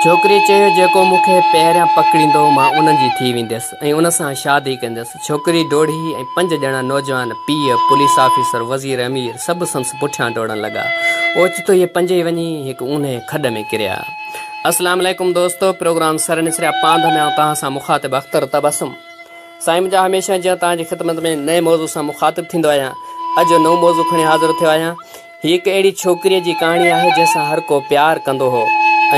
ڇوڪريء چيو، جيڪو مون کي پهريان پڪڙيندو، مان ان جي ٿي وينديس ۽ ان سان شادي ڪنديس. ڇوڪري ڊوڙي ۽ پنج ڄڻا نوجوان، پيء، پوليس آفيسر، وزير امير، سڀ سندس پٺيان ڊوڙڻ لڳا. اوچتو اهي پنجئي وڃي هڪ اونهي کڏ ۾ ڪريا. السلام عليڪم دوستو پروگرام سر نسريا پانڌ ۾ آئون توهان سان مخاطب اختر تبسم سائين منهنجا هميشه جيان توهان جي خدمت ۾ نئين موضوع سان مخاطب ٿيندو آهيان اڄ جو نئون موضوع کڻي حاضر ٿيو آهيان هي هڪ اهڙي ڇوڪريء جي ڪهاڻي آهي جنهن سان هر ڪو پيار ڪندو هو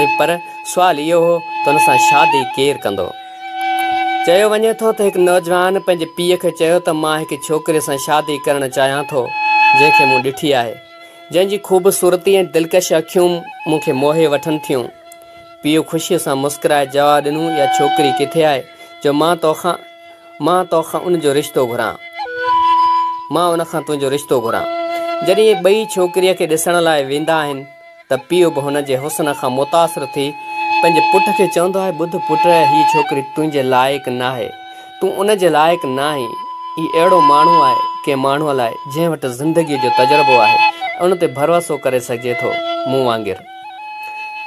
۽ پر سوال اهو هو ته ان سان شادي ڪير ڪندو؟ چيو وڃي ٿو ته هڪ نوجوان پنهنجي پيء کي چيو ته مان هڪ ڇوڪري سان شادي ڪرڻ چاهيان ٿو جنهن کي مون ڏٺي آهي جنهن جي خوبصورتي ۽ دلڪش اکيون مون کي موهي وٺن ٿيون. پيء خوشيء سان مسڪرائي جواب ڏنو يا ڇوڪري ڪٿي آهي جو مان توکان مان تو کان ان جو رشتو گهران. مان ان کان تنهنجو رشتو گهران. جڏهن اهي ٻئي ڇوڪريء کي ڏسڻ لاء ويندا آهن ته پيء به هن جي حسن کان متاثر ٿي پنهنجي پٽ کي چوندو آهي ٻڌ پٽ هيء ڇوڪري تنهنجي لائق ناهي. تون ان جي لائق ناهين. هي اهڙو ماڻهو آهي ڪنهن ماڻهوء لاء جنهن وٽ زندگيء جو تجربو آهي ان تي ڀروسو ڪري سگهجي ٿو مون وانگر.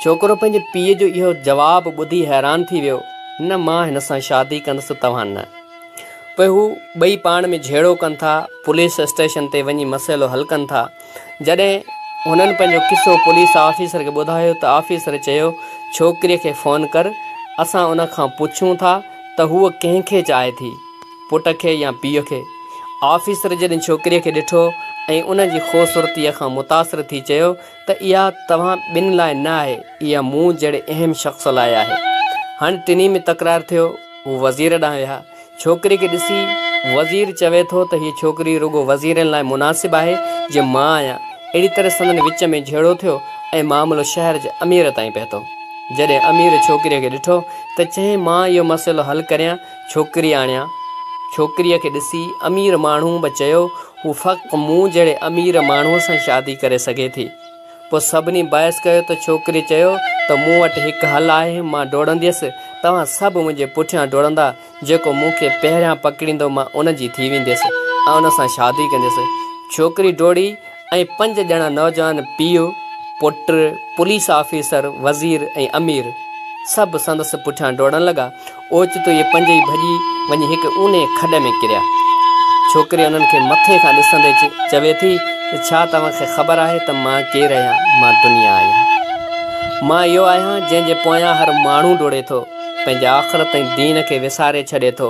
ڇوڪرو پنهنجي پيء جو اهو جواب ٻڌي حيران ٿي ويو. نه مان هن سان شادي ڪندس ته توهان نه. پوء هو ٻئي پاڻ ۾ جهيڙو ڪن ٿا، پوليس اسٽيشن تي وڃي مسئلو حل ڪن ٿا. جڏهن هنن پنهنجو قصو پوليس آفيسر کي ٻڌايو ته آفيسر چيو ڇوڪريء کي فون ڪر، اسان ان کان پڇون ٿا ته هوء ڪنهن کي چاهي ٿي، پٽ کي يا پيء کي. آفيسر جڏهن ڇوڪريء کي ڏٺو ۽ ان جي خوبصورتيء کان متاثر ٿي چيو ته اها توهان ٻن لاء نه آهي، اها مون جهڙي اهم شخص لاء آهي. هاڻ ٽنهي ۾ تڪرار ٿيو. هو وزير ڏانهن ويا. ڇوڪري کي ڏسي وزير چوي ٿو ته هيء ڇوڪري رڳو وزيرن لاء مناسب آهي جي مان آهيان. اهڙي طرح سندن وچ ۾ جهيڙو ٿيو ۽ معاملو شهر جي امير تائين پهتو. جڏهن امير ڇوڪريء کي ڏٺو ته چيائين مان اهو مسئلو حل ڪريان ڇوڪري آڻيان. ڇوڪريء کي ڏسي امير ماڻهوء به چيو، هوء فقط مون جهڙي امير ماڻهوء سان شادي ڪري سگهي ٿي. پوء سڀني بحث ڪيو ته ڇوڪريء چيو ته مون وٽ هڪ حل آهي، مان ڊوڙنديس، توهان سڀ منهنجي پٺيان ڊوڙندا، جيڪو مون کي پهريان پڪڙيندو مان ان جي ٿي وينديس ۽ ان سان شادي ڪنديس. ڇوڪري ڊوڙي ۽ پنج ڄڻا نوجوان پيء، پٽ، پوليس آفيسر، وزير ۽ امير سڀ سندس پٺيان ڊوڙڻ لڳا. اوچتو اهي پنج ئي ڀڄي وڃي هڪ اونهي کڏ ۾ ڪريا. ڇوڪري انهن کي مٿي کان ڏسندي چوي ٿي ته ڇا توهان کي خبر آهي ته مان ڪير آهيان؟ مان دنيا آهيان. مان اهو آهيان جنهن جي پويان هر ماڻهو ڊوڙي ٿو، پنهنجي آخرت ۽ دين کي وساري ڇڏي ٿو.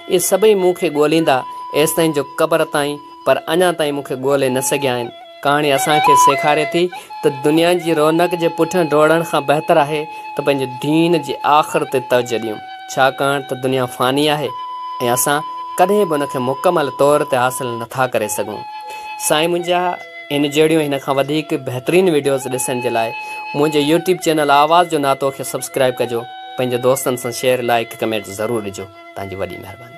اهي سڀئي مون کي ڳوليندا ايستائين جو قبر تائين پر اڃا تائين مون کي ڳولي نه سگهيا آهن. ڪهاڻي اسان کي سيکاري ٿي ته دنيا جي رونق جي پٺيان ڊوڙڻ کان بهتر آهي ته پنهنجي دين جي آخر تي توجهه ڏيون، ڇاڪاڻ ته دنيا فاني آهي ۽ اسان ڪڏهن به ان کي مڪمل طور تي حاصل نه ٿا ڪري سگهون. سائين منهنجا ان جهڙيون ۽ هن کان وڌيڪ بهترين وڊيوز ڏسڻ جي لاء منهنجي يوٽيوب چينل آواز جو ناتو کي سبسڪرائب ڪجو، پنهنجي دوستن سان شيئر، لائيڪ، ڪمينٽ ضرور ڏجو. تهنجي وڏي مهرباني.